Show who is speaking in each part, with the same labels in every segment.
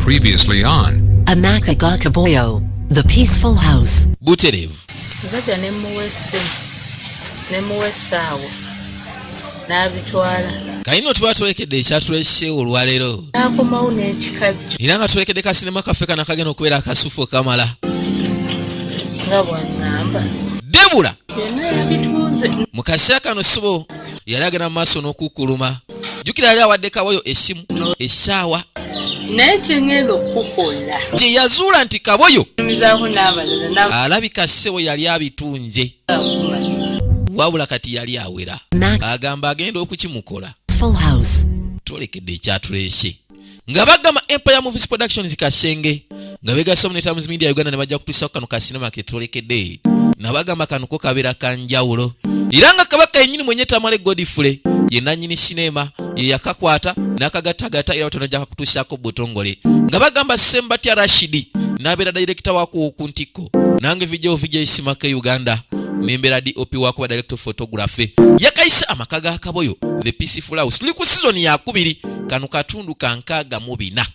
Speaker 1: Previously on Amakagakaboyo,
Speaker 2: the peaceful house. Buterevu. Nzajja
Speaker 3: ne
Speaker 4: muwa essimu ne muwa essaawa n'abitwala. Kayino
Speaker 3: tuba tulekedde ekyatulese olwaleero. N'akomawo n'ekikajjo.
Speaker 4: Era nga tulekedde ka
Speaker 3: sinema kaffe kana kagenda okubeera akasufu kamala. Nga
Speaker 4: bw'aŋŋamba. Debula.
Speaker 3: Byonna
Speaker 4: yabitunze. Mu kaseera kano
Speaker 3: sibo yali agenda mu maaso n'okukkuluma. jukira yali awadde kaboyo esimu essaawa naye
Speaker 4: kyengenda okukukola kye yazuula
Speaker 3: nti kaboyo
Speaker 4: alabika ssebo yali
Speaker 3: abitunje wabula kati yali awera agamba agenda okukimukola
Speaker 2: tolekedde
Speaker 3: ekyatuleese nga bagamba empire movies productions kasenge nga begasamu ne times media uganda ne bajja kutuusa kano ka sinema ketwolekedde nabagamba kano ko kabeera kanjawulo era nga kabaka yenyini mwenye tamale godfrey ye nanyini sinema ye yakakwata n'akagattagatta era batonajja kakutuusaako butongole nga bagamba sembatya rashidi n'abeera dayirekita wakuwo ku ntikko nange vidio vidio isimaka uganda nembera dop wakuba director photography yakayise amaka ga kaboyo the peaceful house tuli ku sizoni yakubiri kano katundu ka nkaaga mu bina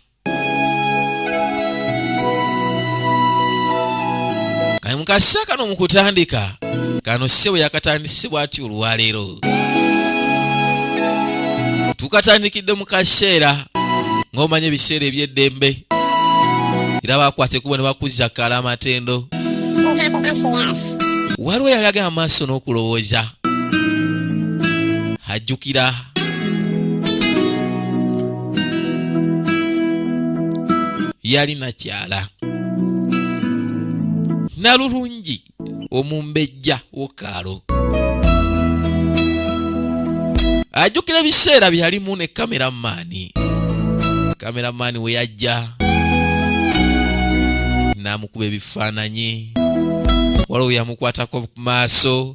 Speaker 3: kale mu kaseera kano mu kutandika kano ssebo yakatandise bw'ati olwaleero tukatandikidde mu kaseera ng'omanya ebiseera eby'eddembe era bakwata ekubo ne bakuzza kala amatendo waliwo yali agala amaaso n'okulowooza ajjukira yali nakyala nalulungi omumbejja wokaalo ajjukira ebiseera byeyalimu ne kameramaani kameramaani we yajja n'amukuba ebifaananyi waliwo yamukwatako ku maaso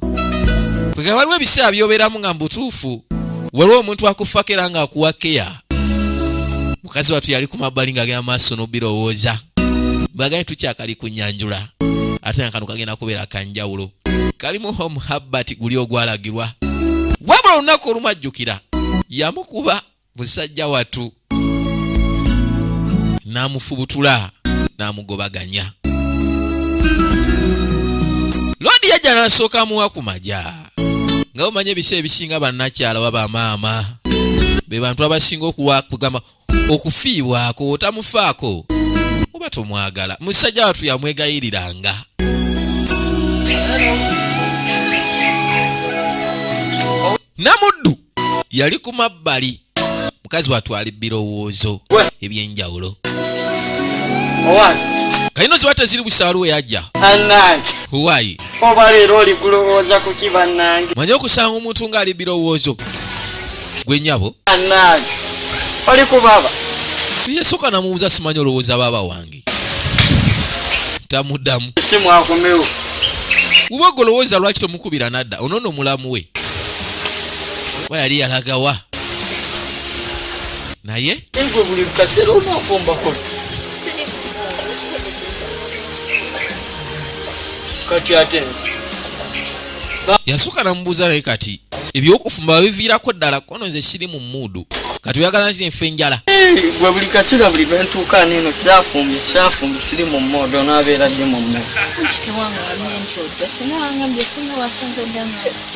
Speaker 3: kwega waliwo ebiseera byobeeramu nga mubutuufu waliwo omuntu akuffako era ng'akuwa keya mukazi watu yali ku mabbali ng'agenda maaso n'obirowooza baganye tukyakali ku nyanjula ate nga kano kagenda kubeera kanjawulo kalimu home habbat guli ogwalagirwa wabula olunaku olumajjukira yamukuba musajja watu n'amufubutula n'amugobaganya loodi yajja n'asooka amuwa ku maja nga omanya ebiseera ebisinga bannakyala baba maama be bantu abasinga okuwakugamba okufiibwako otamufaako oba tomwagala musajja watu yamwegayiriranga namuddu yali ku mabbali mukazi watwali birowoozo ebyenjawulo kayino ziba teziri busaalu weyajja huwayi oba leero
Speaker 5: oli kulowooza kuki bannange manye okusanga omuntu
Speaker 3: ng'ali birowoozo gwe nyabo
Speaker 5: oli kubaba yesooka
Speaker 3: namubuuza simanyi olowooza baaba wange tamudamu
Speaker 5: uba
Speaker 3: golowooza lwaki tomukubira nadda onono mulamu we oba yali yalagawa naye yasooka namubuuza naye kati ebyokufumba babiviirako ddala kono nze siri mu muudu kati oyagala nzire nfe enjala gwe buli kaseera
Speaker 5: buli lwentuuka neno saafumbye saafumbye siri mu muudu onabeera ddi mu mmere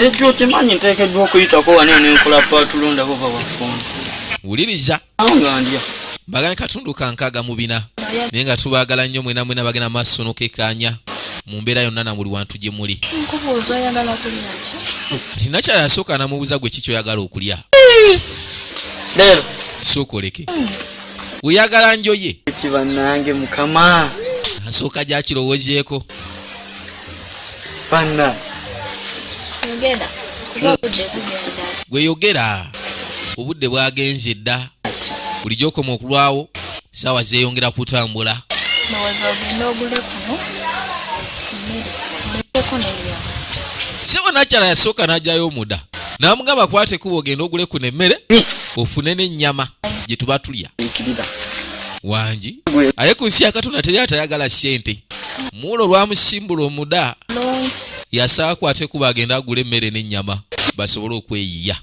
Speaker 5: ekyo okimanyi nteekeddwa okuyitako wanene nkola paatulondabo babafumbi wuliriza bagane katundu
Speaker 3: kankaaga mu bina naye nga tubaagala nnyo mwena mwena bagenda maaso nokekaanya mu mbeera yonna na buli wantu gye muli kati nakyala yasooka namubuuza gwe ki kyoyagala okulya
Speaker 5: sokoleke
Speaker 3: oyagala njoye
Speaker 5: asooka
Speaker 3: gyakirowozeeko
Speaker 5: Panna. Yogera.
Speaker 3: Gwe yogera. Obudde bwagenze dda. Bulijjo okoma okulwawo saawa zeeyongera kutambula. Ndowooza ogenda ogule kuno. Sebo nakyala yasooka n'ajayo omuda n'amugamba kwate kuba ogenda ogule kuno emmere ofune n'ennyama gye tuba tulya. wangi aye ku nsi yakatonda teri atayagala sente muula olwamusimbula omuda yasaako ate kuba agenda agula emmere n'ennyama basobole okweyiya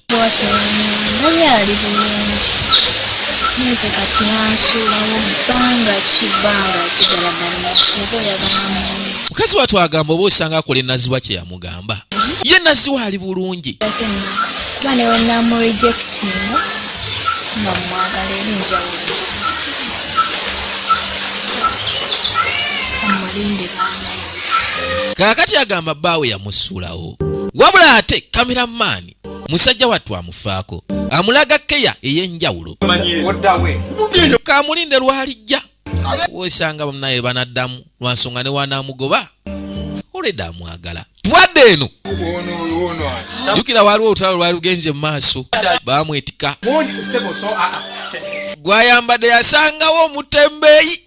Speaker 1: mukazi watu agamba oba
Speaker 3: osanga akola enazibwa kyeyamu mugamba ye nazi waali bulungi
Speaker 1: kaakati
Speaker 3: agamba bbaawe yamusuulawo wabula ate kameramaani musajja wattu amufaako amulaga keya ey'enjawulo kamulinde lwalijja wesanga bamnaye banaddamu lwansonga newanamugoba oleda amwagala twadde eno jukira waliwo olutalo lwali lugenze mu maaso bamwetika gwayambadde yasangawo omutembeeyi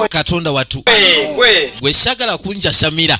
Speaker 3: katonda watu gwe sagala kunjasamira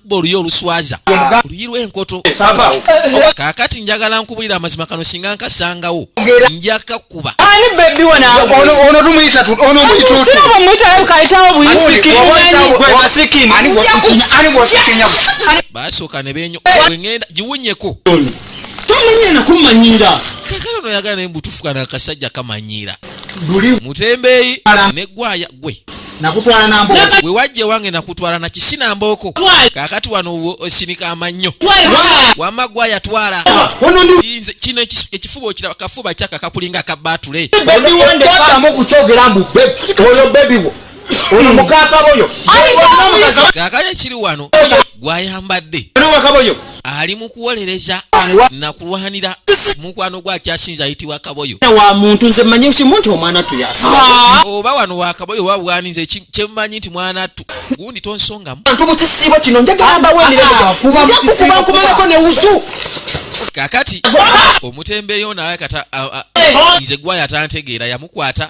Speaker 3: kubba oluyi oluswaza oluyi lw'enkoto kaakati njagala nkubulira amazima kano singa nkasangawo nja kakuba
Speaker 6: baasooka
Speaker 3: ne benyo wengenda giwunyeko
Speaker 6: kakala ono yagala
Speaker 3: naye mbutufuka nakasajja kamanyiira mutembeeyi ne gwaya gwe nakutwala na
Speaker 6: mbooko we wajja ewange
Speaker 3: nakutwala na kisi na mbooko kakati wano osinika amannyo wama gwa yatwala kino ekifuba okira kafuba kyaka kakulinga ka batule otamu
Speaker 6: okukyogera mbu oyo bebi wo oyo mukakaboyo
Speaker 3: kakati ekiri wano gwayambadde
Speaker 6: ali mu kuwolereza
Speaker 3: na kulwanira mukwano gwe akyasinza ayitibwa kaboyo wa muntu nze manyi
Speaker 6: kimu nti omwana tu yasa ah. oba wano
Speaker 3: wa kaboyo oba bwani nze kyemumanyi nti mwana tu gundi tonsongamu bantu mu kisiibo kino
Speaker 6: njagala mbawo emirembejakubakumalako ah, ne wuzu kakati
Speaker 3: omutembeeyo naye kata nze gwaya tantegeera kukwata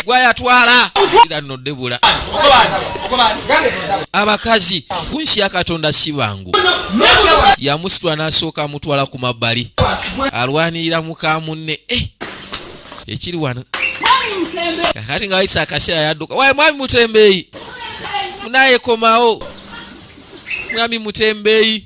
Speaker 4: gwayatwala
Speaker 3: era no debula abakazi kunsi ya katonda si bangu yamusitula n'asooka amutwala ku mabbali alwanirira muka munne eh, ekiri wano kati nga wayisa akaseera yadduka waye mwami mutembeeyi munayekomawo mwami mutembeeyi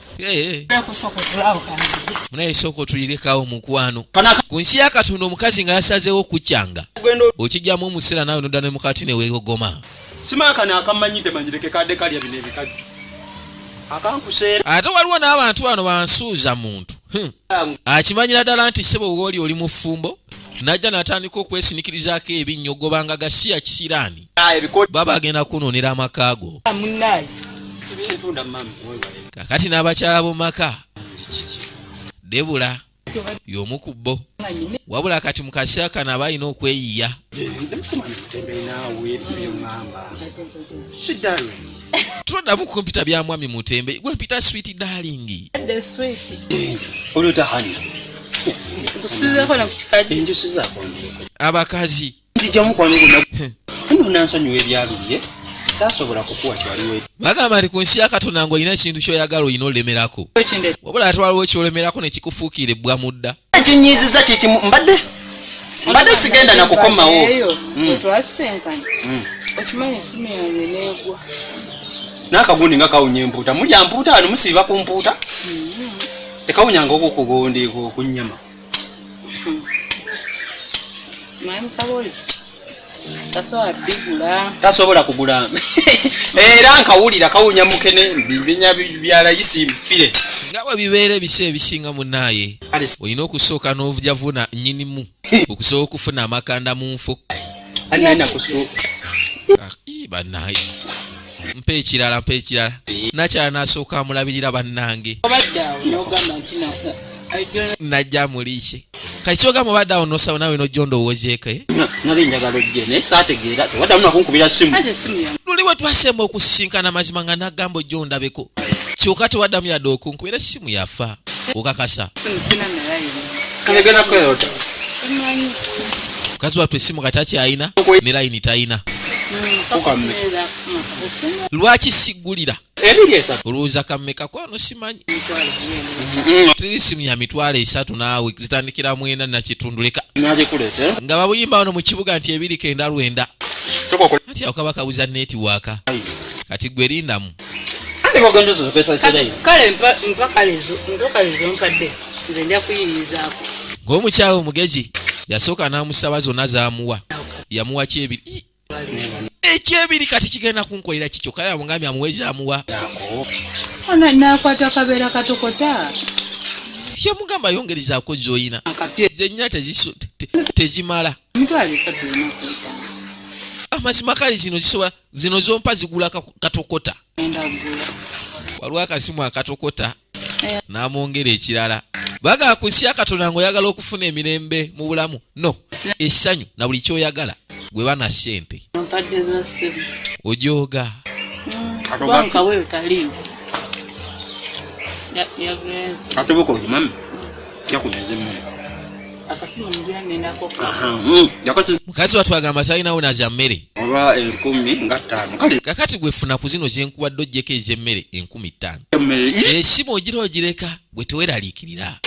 Speaker 3: munaye sooka otulirekawo mukwano ku nsi ya katonda omukazi nga yasazeewo okukyanga okijjamu omuseera nawe nodda ne mukati newegogoma simakana
Speaker 6: akamanyidde manyireke kadde kalya bino ebikajjo akankuseera ate waliwo
Speaker 3: n'abantu bano bansuuza muntu akimanyira ddala nti sebo wooli oli mufumbo najja natandika okwesinikirizaako ebinnyo gobanga gasiya kisiraani baba agenda kunuunira amaka go kakati n'abakyala bo maka debula y'omu ku bo wabula kati mu kaseera kano aba alina okweyiya toddamu kumpita bya mwami mutembe gwe mpita switi dalingi
Speaker 6: abakazi bagamba nti ku nsi ya
Speaker 3: katonda ng'olina ekintu ky'oyagala olina olemerako wabula ate waliwo ekyolemerako ne kikufuukira ebbwa mu dda ekinyiiziza kiki
Speaker 6: mbadde mbadde sigenda nakukomawo hmm.
Speaker 4: hmm. okimanyi esimu yange negwa
Speaker 6: nakagundi nga kawunya empuuta mulya mpuuta wano musiiba ku mpuuta hmm. tekawunyanga okwo kugundi kunyama tasobola kugula era nkawulira kawunya mukene binya bya layisi mpire nga bwe bibeera
Speaker 3: ebiseera ebisinga munaaye olina okusooka n'ovujavuna nyinimu okusobola okufuna amakanda mu nfo banaye mpa ekirala mpa ekirala nakyala nasooka amulabirira bannange najja muliishe kati kyoga mubadde awo nosawo nawe nojja ondowoozeeko eh? nali njagala
Speaker 6: ojje naye saategeera tewaddamu nakunkubira simu luli bwe
Speaker 3: twasemba okusisinkana mazima nga nagamba ojja ondabeko kyoka tewaddamu yadde okunkubira simu yafa okakasa mukazi wattu esimu kati akyayina ne layini tayina lwaki sigulira olowooza kammeka kwano simanyi mm-hmm. tuli simu ya mitwalo esatu naawe zitandikira mwena nakitundu leka nga babuyimba wano mu kibuga nti ebiri kenda lwenda nti awo kaba kabuza netiwaaka kati gwe lindamu
Speaker 4: ng'omukyalo
Speaker 3: omugezi yasooka n'amusaba zonna zaamuwa yamuwa kyebiri ekyebiri kati kigenda kunkolera kikyo kale amugambye amuweza amuwa
Speaker 4: ona nakwata kabeera katokota
Speaker 3: yamugamba yongerezaako zoyina zenyina tezimala amazima kale zino zisobola zino zompa zigula katokota waliwo akasimu akatokota n'amwongera ekirala baga kusya katonda ngaoyagala okufuna emirembe mu bulamu no essanyu na buli kyoyagala gwe bana sente ojooga atubuka ojimami yakunezemu Mm, mukazi watu agamba talinawo naja mmere oba enkumi nga ttaano kale kakati gwefuna ku zino zenkuwadde ojjeko ez'emmere enkumi ttaano esimu ogira ogireka gwe teweraliikirira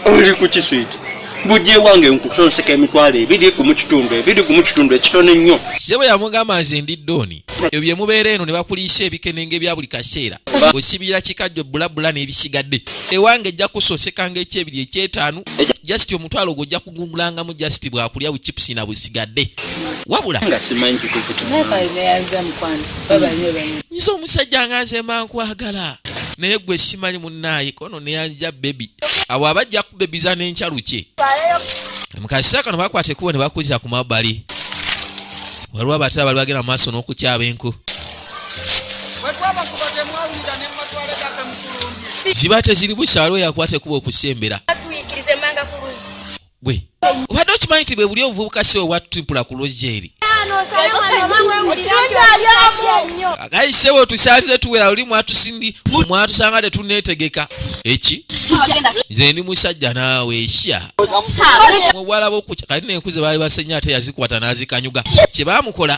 Speaker 6: oli ku kiswiti bujje wange nkusonseka emitwalo ebiri ku mu kitundu ebiri ku mu kitundu ekitono ennyo sebo yamugamba
Speaker 3: nze ndi ddooni ebyo bye mubeera eno ne bakuliisa ebikenenga ebya buli kaseera osibira kikajjo bulabula n'ebisigadde ewange ejja kusosekanga ekyebiri ekyetaanu jasiti omutwalo ogwo ojja kugungulangamu jasiti bwakulya buchipusi na busigadde wabula nze omusajja nga nze mankwagala naye gwe simanyi munnaayikono neyanja bebi awo abajja kubebiza nenkya lukye mukakisa kano bakwata ekubo ne bakuza ku mabbali waliwo abatala bali bagenda mu maaso n'okukyaba enku ziba teziri busa waliwo yakwata ekubo okusembera gwe obadde okimanyi nti bwe buli obuvubuka si obwatutipula ku lojeri agayi sebo tusanze tuwera luli mwatusindi mwatusanga tetunetegeka eki nze ndi musajja naawe sha muwala bokuca kati nenkuze baali basenya ate yazikwata nazikanyuga kye bamukola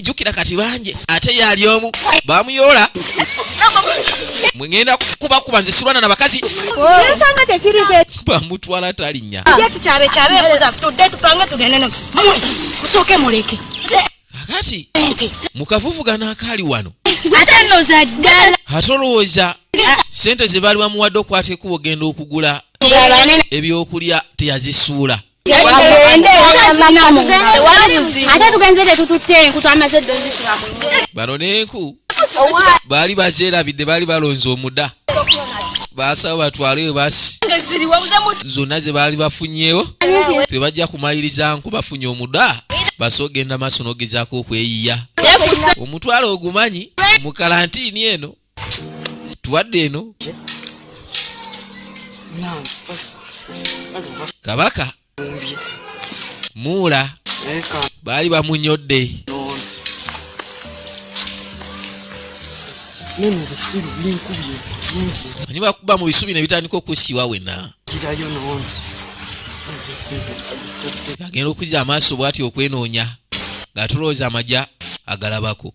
Speaker 3: jukira kati banje ate yali omu bamuyoola mwegenda kubakuba nze sirwana na bakazi bamutwala talinya kakati mukavuvugana akaali wano ate olowooza sente zebaali bamuwadde okwata ekubo genda okugula ebyokulya teyazisuula bano nenku baali bakyerabidde baali balonze omuda baasaba batwaleyo basi zonna ze baali bafunyewo tebajja kumaliriza nku bafunye omuda basa ogenda maaso n'ogezaako okweyiya omutwalo ogumanyi mu kalantiini eno tuwadde eno kabaka muula baali bamunyodde ani bakuba mu bisubi ne bitandika okusiwa wena agenda okuza amaaso bwati okwenoonya ng'atulowooza amaja agalabako